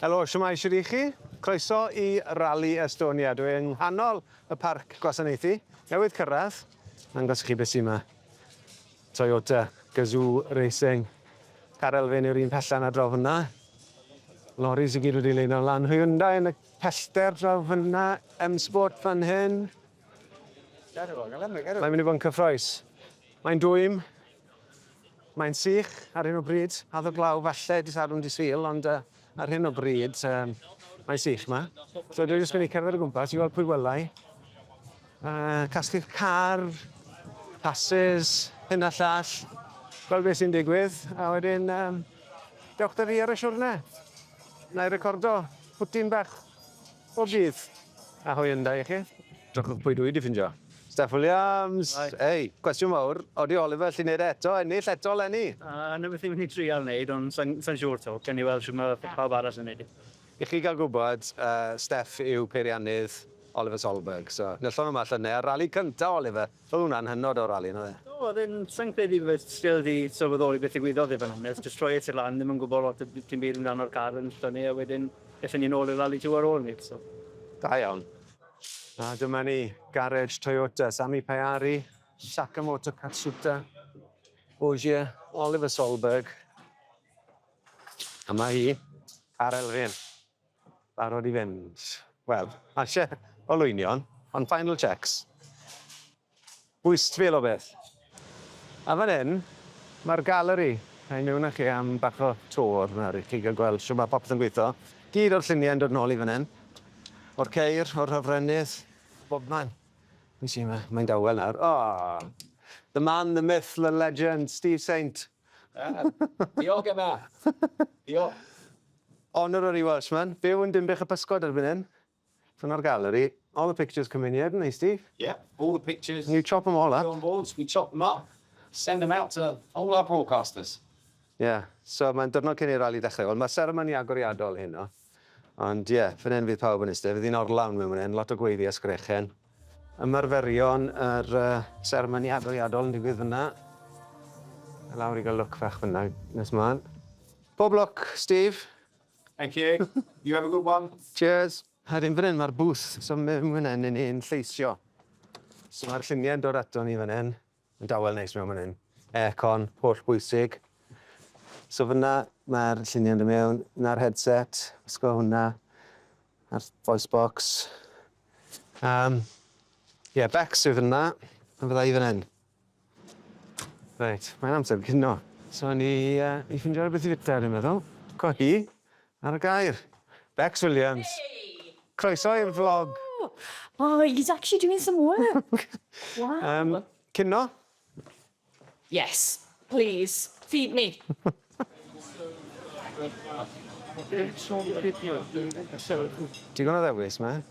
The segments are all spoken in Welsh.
Helo, shwmae, shwt y'ch chi? Croeso i Rali Estonia. Dwi yng nghanol y parc gwasanaethu, newydd cyrraedd. Nangos i chi beth sy' yma. Toyota Gazoo Racing. Car elfen yw'r un pella 'na draw fyna. Loris i gyd wedi leino lan. Hyundai yn y pellter draw fyna. M-Sport fan hyn. Mae'n mynd i fod yn cyffroes. Mae'n dwym. Mae'n sych ar hyn o bryd, addo glaw falle dydd Sadwrn dydd Sul ond ar hyn o bryd mae'n sych 'ma. So dwi jyst mynd i cerdded o gwmpas i weld pwy welai. Casglu'r car, passes, hyn a llall, gweld beth sy'n digwydd a wedyn dewch 'da fi ar y siwrne. Wna i recordo pwtyn bach Bob dydd a hwyl yn da i chi. Drychwch pwy dwi 'di ffindio. Steff Williams! Ei! Cwestiwn fawr, odi Oliver allu neud e eto, ennill eto 'leni? Yy 'na beth ni'n myn' i trial neud ond sai'n sai'n siŵr 'to, gewn ni weld shwd ma' pawb arall yn neud e. I chi ga'l gwbod, yy Steff yw peiriannydd Oliver Solberg, so nyllon nhw 'ma llynne ar rali cynta Oliver! Oedd hwnna'n hynod o rali, yn oedd e? Do, oedd e'n... Sa i'n credu bod fi still wedi sylweddoli beth ddigwyddodd i fod yn onest, jyst troi e tu lan, ddim yn gwybod lot o dim byd amdano'r car yn llynnu a wedyn ethon ni nôl i'r Rally Two ar ôl 'ny, so. Da iawn. A dyma ni, garej Toyota, Sami Pajari, Sakamoto Katsuta, Ogier, Oliver Solberg. A 'ma hi, car Elfyn. Barod i fynd. Wel, ma' isie olwynion, ond final checks. Wystfil o beth. A fan 'yn, ma'r galeri. A i miwn â chi am bach o tour nawr i chi ga'l gweld shwt ma' popeth yn gwitho. Gyd o'r llunie'n dod nôl i fan 'yn. O'r ceir, o'r hofrennydd, bobman. Be' sy 'ma? Mae'n dawel nawr. O! The man, the myth, the legend, Steve Saint. Diolch Emma! Diolch! Honorary Welshman, byw yn Dinbych y Pysgod erbyn hyn. From our gallery. All the pictures come in here, don't they, Steve? Yep, all the pictures. You chop them all up. Film boards, we chop them up, send them out to all our broadcasters. Ie, so mae'n diwrnod cyn i'r rali ddechrau. Wel, mae seremoni agoriadol heno. Ond ie, fan hyn fydd pawb yn iste. Fydd hi'n orlawn mewn fan hyn, lot o gweiddi a sgrechen. Ymarferion yr uh, seremoni adoliadol yn digwydd fyna. A lawr i gael look fach fyna nes mlaen. Pob lwc, Steve! Thank you. You have a good one. Cheers. A dim fan hyn, mae'r booth, so mewn fan hyn, ni'n lleisio. So mae'r lluniau'n dod ato ni fan hyn. Dawel neis mewn man hyn. Aircon, holl bwysig. So fyna mae'r lluniau'n dod mewn. Na'r headset, wisgo hwnna. A'r voice box. Um, yeah, Bex yw fyna. A fydda i fan hyn. Reit, mae'n amser cino. So ni, uh, i ffindio rhywbeth i fita, dwi'n meddwl. Co hi. Ar y gair! Bex Williams. Croeso i'r vlog. Oh, he's actually doing some work. Waw. Yym, cinio? Yes, please, feed me. Digon o ddewis 'ma.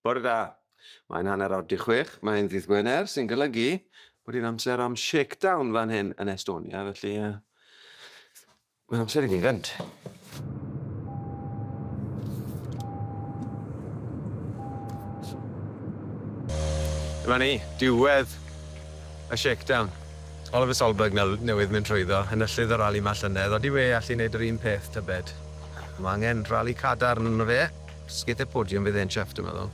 Bore da! Mae'n hanner awr 'di chwech, mae'n ddydd Gwener, sy'n golygu bod hi'n amser am shakedown fan hyn yn Estonia, felly uh, mae'n amser i ni fynd. Dyma ni, diwedd y shakedown. Oliver Solberg newydd mynd trwyddo, enillydd y rali ma llynedd, odi we allu wneud yr un peth tybed? Mae angen rali cadarn yno fe. Sgidie podium fydd e'n chuffed dwi'n meddwl.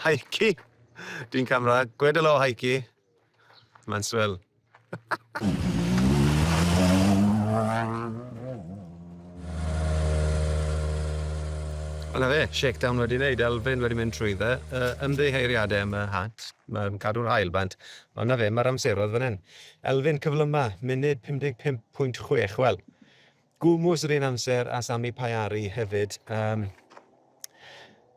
Heiki! Dyn camera, gwed helo Heiki! Mae'n swil. Wel na fe, shakedown wedi wneud, elfen wedi mynd trwy dde, uh, ymddeheiriadau am y hat, mae'n cadw'r hael bant, ond na fe, mae'r amseroedd fan hyn. Elfyn cyflyma, munud 55.6. Wel, gwmws yr un amser a Sami Pajari hefyd. Um,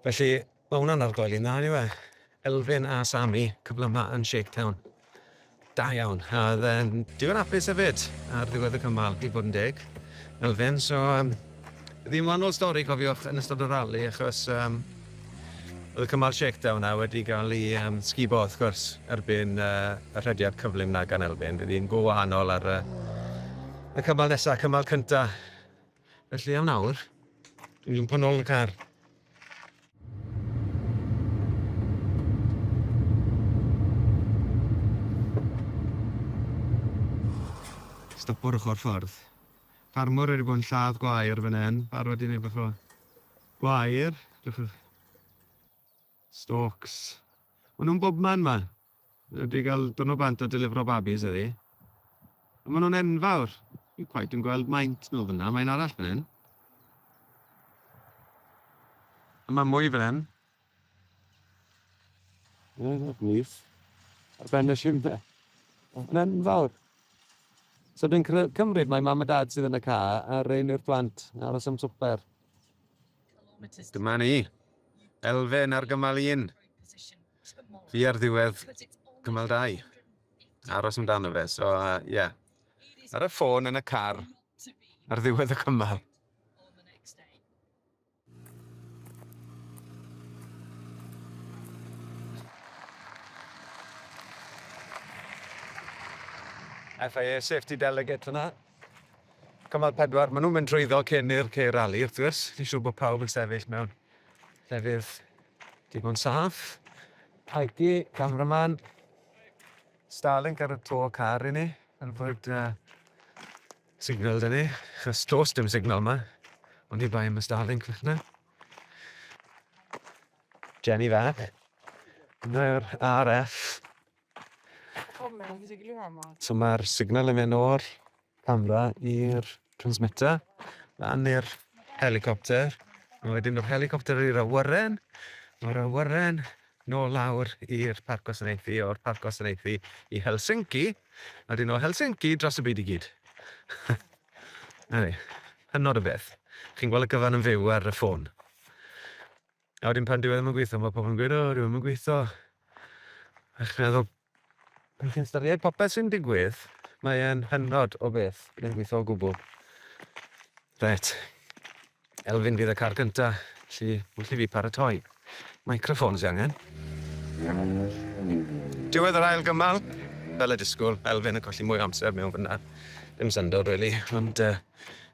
felly, mae hwnna'n argoel i'n dda, yw e? Elfyn a Sami, cyflyma yn Shaketown. Da iawn. A oedd e'n digon apus hefyd ar ddiwedd y cymal, i bod yn deg. Elfyn, so... Um, Ddim yn wahanol stori cofiwch yn ystod y rali achos yym oedd y cymal shakedown 'na wedi cael ei yym sgubo wrth gwrs erbyn yy y rhediad cyflym 'na gan Elfyn fydd hi'n go wahanol ar yy y cymal nesa, cymal cynta felly am nawr dwi'n jwmpo nôl yn y car. Stopo ar ochr ffordd. Ffarmwr wedi bod yn lladd gwair fan 'yn, barod i neud bach o gwair, edrych ar stalks. Ma' nhw'n bobman 'ma. Wedi cael dwrnod bant a delifro babis heddi. A ma' nhw'n enfawr. Fi'n cweit yn gweld maint nhw fan 'na, mae un arall fan 'yn. A ma' mwy fan 'yn. Mae'n gwych. Ar ben y simne. Mae'n enfawr. So dwi'n cymryd mae mam a dad sydd yn y car a rein yw'r plant yn aros am swper. Dyma ni. Elfen ar gymal un. Fi ar ddiwedd cymal dau. Aros amdano fe. So, uh, yeah. Ar y ffôn yn y car ar ddiwedd y cymal. FIA Safety Delegate fyna. Cymal pedwar, maen nhw'n mynd trwyddo cyn i'r ceir rali, wrth gwrs. Fi'n siŵr bod pawb yn sefyll mewn llefydd digon saff. Aiki, cameraman. Starlink ar y to car i ni. Yn fwyd uh, signal 'da ni, achos does dim signal yma, ond i bai am y Starlink fythna. Jenny fach. Dyna'r RF. So mae'r signal yn mynd o'r camera i'r transmitter, lan i'r helicopter, a wedyn o'r helicopter i'r awyren, o'r awyren Nôl lawr i'r Parc Gwasanaethu, o'r Parc Gwasanaethu i Helsinki, a wedyn o Helsinki dros y byd i gyd. Na ni. Hynod o beth. Chi'n gweld y gyfan yn fyw ar y ffôn. A wedyn pan dyw e ddim yn gweithio, mae pobl yn gweud, o, dyw e ddim yn gweithio. A chi'n meddwl, Pan chi'n ystyried popeth sy'n digwydd, mae e'n hynod o beth. Mae'n gweithio o gwbl. Ret. Elfyn fydd y car gynta, lli wrth i fi paratoi. Microffon sy angen. Diwedd yr ail gymal, fel y disgwyl, Elfyn yn colli mwy o amser mewn fyna. Dim syndod, really, ond uh,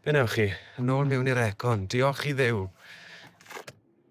be newch chi? Yn ôl mewn i'r aircon, diolch i ddew.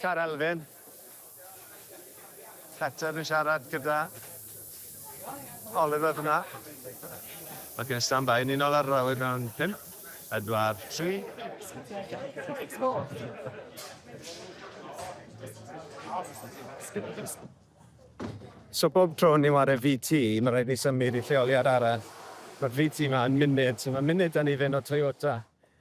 Car Elfyn. Peter yn siarad gyda Oliver f'na. Ac yn stand-by yn unol ar yr awyr mewn pump, pedwar, tri. So bob tro ni'n ware VT, ma' raid ni symud i lleoliad arall. Ma'r VT 'ma yn munud, so ma' munud 'da ni fyn o Toyota.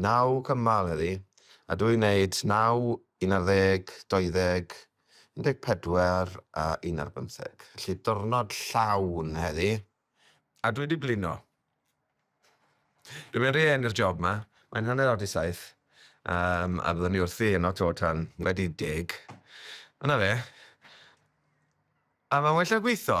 Naw cymal heddi, a dw i'n neud naw, un ar ddeg, deuddeg, un deg pedwar a un ar bymtheg. Felly diwrnod llawn heddi, a dwi 'di blino. Dwi'n mynd rhy hen i'r job 'ma, mae'n hanner awr 'di saith, yym, a byddwn i wrthi yno 'to tan wedi deg. A 'na fe. A mae'n well na gwitho!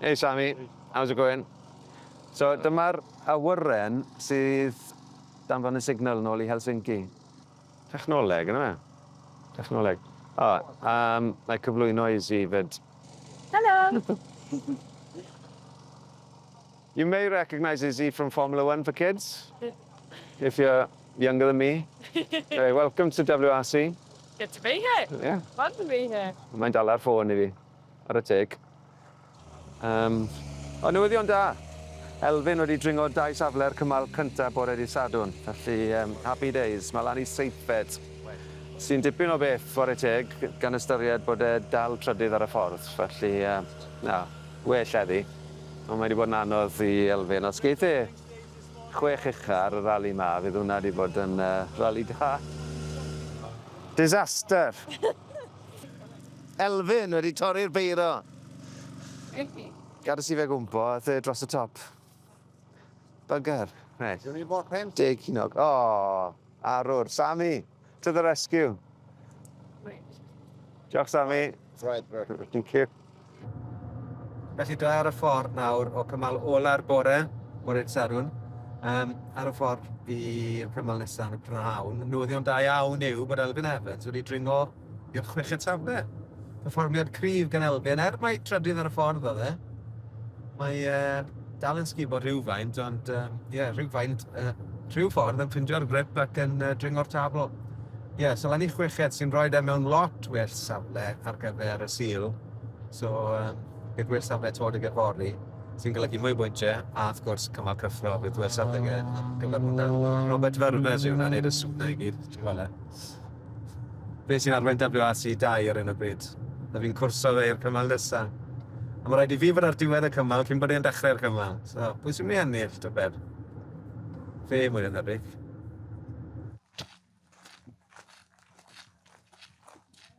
Hey Sammy, how's it going? So dyma'r awyren sydd danfon y signal nôl i Helsinki. Technoleg yndyfe? Technoleg. O, yym, na'i cyflwyno i Zee 'fyd. Helo! You may recognise Izzy from Formula One for Kids, if you're younger than me. Anyway, welcome to WRC. Good to be here. Yeah. Fun to be here. Mae'n dala'r ffôn i fi. Ar y teg. Um, o, newyddion da! Elfyn wedi dringo dau safle'r cymal cyntaf bore di Sadwn, felly um, happy days, mae lan i seithfed, sy'n dipyn o beth fore teg, gan ystyried bod e dal trydydd ar y ffordd, felly uh, na, well eddi. Ond mae wedi bod yn anodd i Elfyn, os geith e chwech ucha ar y rali ma, fydd hwnna wedi bod yn uh, rali da. Disaster! Elfyn wedi torri'r beiro. Gades i fe gwmpo, ath e dros y top. Bugger. Reit. Dwi'n bod pen. Deg cinog. O, arwr. Sammy, to the rescue. Diolch, Sammy. Right, right. Thank you. Felly dwi ar y ffordd nawr o cymal ola'r bore, bore Sadwrn, um, ar y ffordd i'r cymal nesaf yn y prawn. Newyddion da iawn yw bod Elfyn Evans wedi dringo i'r chweched safle. Perfformiad cryf gan Elfyn, er mai trydydd ar y ffordd oedd e. Mae uh, Dal yn sgubo rhywfaint, ond ie, uh, yeah, rhywfaint, uh, rhyw ffordd yn ffindio'r grip ac yn uh, dringo'r tabl. Ie, yeah, so lan i chweched sy'n rhoi e mewn lot well safle ar gyfer y sil. So, um, bydd well safle tod y gyfori sy'n golygu mwy bwyntiau a wrth gwrs cymal cyffro bydd well safle gyfer hwnna. Robert Vermes yw hwnna'n neud y swnau i gyd. Ti'n gweld e? Beth sy'n arwain WRC 2 ar hyn o bryd? A fi'n cwrso fe i'r cymal nesa. A mae rhaid i fi fod ar diwedd y cymal cyn bod e'n dechrau'r cymal. So, pwy sy'n mynd i ennill, tybed? Fe, mwy na thebyg.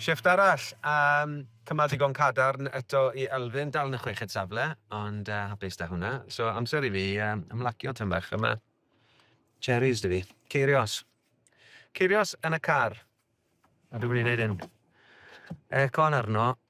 Shifft arall a cymal digon cadarn eto i Elfyn, dal yn y chweched safle ond hapus 'da hwnna. So amser i fi ymlacio tym bach a ma' cherries 'da fi. Ceirios. Ceirios yn y car. A dwi'n mynd i neud hyn. Aircon arno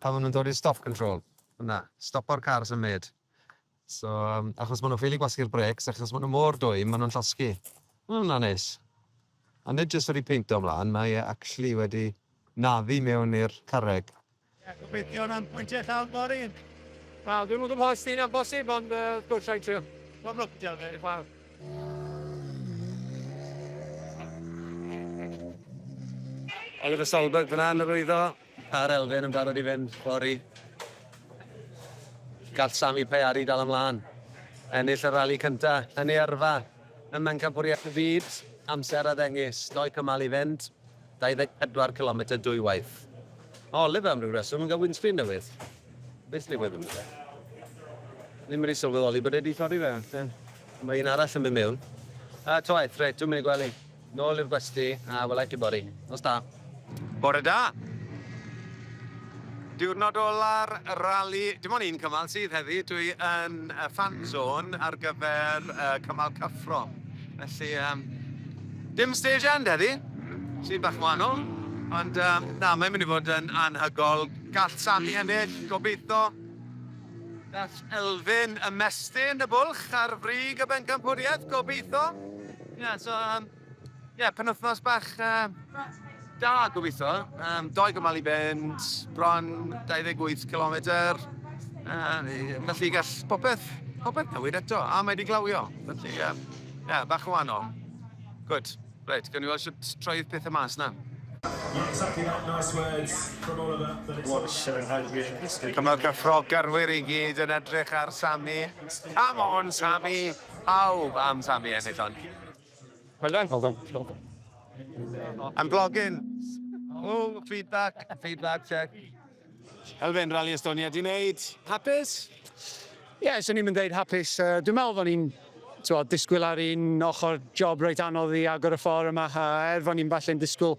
Pan ma' nhw'n dod i'r stop control, na, stopo'r car symud. So, achos ma' nhw'n ffili gwasgu'r brêcs, achos ma' nhw mor dwym, ma' nhw'n llosgi. Ma' hwnna'n neis. A nid jyst wedi peinto ymlaen, mae e actually wedi naddu mewn i'r carreg. Ie, gobeithio na'n pwyntiau llawn fory. Wel, dwi'm yn gwybod os 'di hynna'n bosib, ond yy, dw i'n trio. Pob lwc, diolch Dave. Wel. Oliver Solberg fan'na yn yr wyddor. Ca'r elfen yn barod i fynd fory. Gall Sami Payari dal ymlaen. Ennill y rali cynta yn ei yrfa ym Mhencampwriaeth y Byd, amser a ddengys doi cymal i fynd, 24 cilometr dwywaith. Mae Oliver am ryw reswm yn cael windscreen newydd. Beth ddigwydd yn fe? Ddim wedi sylweddoli bod e wedi torri fe. Ie. Mae un arall yn mynd mewn. A toeth, reit, dwi'm yn ei gwely. Nôl i'r gwesty, a wela i chi fory. Nos da. Bore da! Diwrnod ola'r rali, dim ond un cymal sydd heddi, dwi yn y fan zone ar gyfer y cymal cyffro. Felly, um, dim stage end heddi, sy'n bach yn wahanol, ond um, na, mae'n mynd i fod yn anhygol. Gall Sami ennill, gobeithio. Gall Elfyn ymestyn y bwlch ar frig y bencampwriaeth, gobeithio. Ie, so, um, yeah, penwthnos bach uh, da gobeithio. Um, doi gymal i fynd, bron 28 km. Uh, felly gall popeth, popeth newid eto, a mae wedi glawio. Felly, ie, um, yeah, bach o wahanol. Good. Right, gawn ni weld sut troedd pethau mas na. Dyma'r cyffro gyrwyr i gyd yn edrych ar Sami. Come on, Sami! Pawb am Sammy ennill hon. Well done. Well done. Well done. I'm vlogging! Ooh, feedback! Feedback check. Elfyn, Rali Estonia di neud. Hapus? Ie, swn i'm yn deud hapus. Dwi'n meddwl fo' ni'n, t'mod, disgwyl ar un ochr job reit anodd i agor y ffor yma, a er fo' ni'm falle'n disgwyl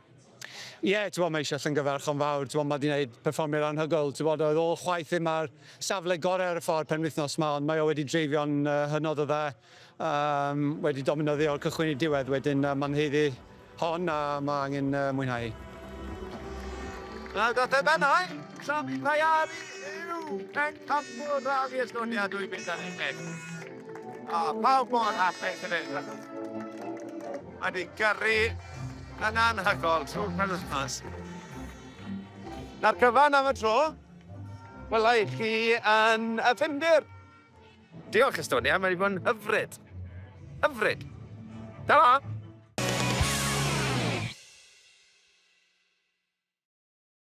Ie, t'bo' mae eisiau llyngyfarchon fawr, t'bo' ma' 'di wneud perfformiad anhygoel, t'bod oedd ôl chwaith ddim ar safle gore ar y ffordd penwythnos 'ma ond mae o wedi dreifio'n yy hynod o dda, yym wedi dominyddio o'r cychwyn i'r diwedd wedyn yy ma'n haeddu hon a ma' angen yy mwynhau. Wel daeth e bennai, Sami Tayari yw pencampwr Rali Estonia 2011. A pawb mor hapus hefyd achos mae 'di gyrru Mae'n anhygoel trwy'r penwythnos. Na'r cyfan am y tro. Wela i chi yn y Ffindir. Diolch Estonia, mae wedi bod yn hyfryd. Hyfryd. Ta-ra!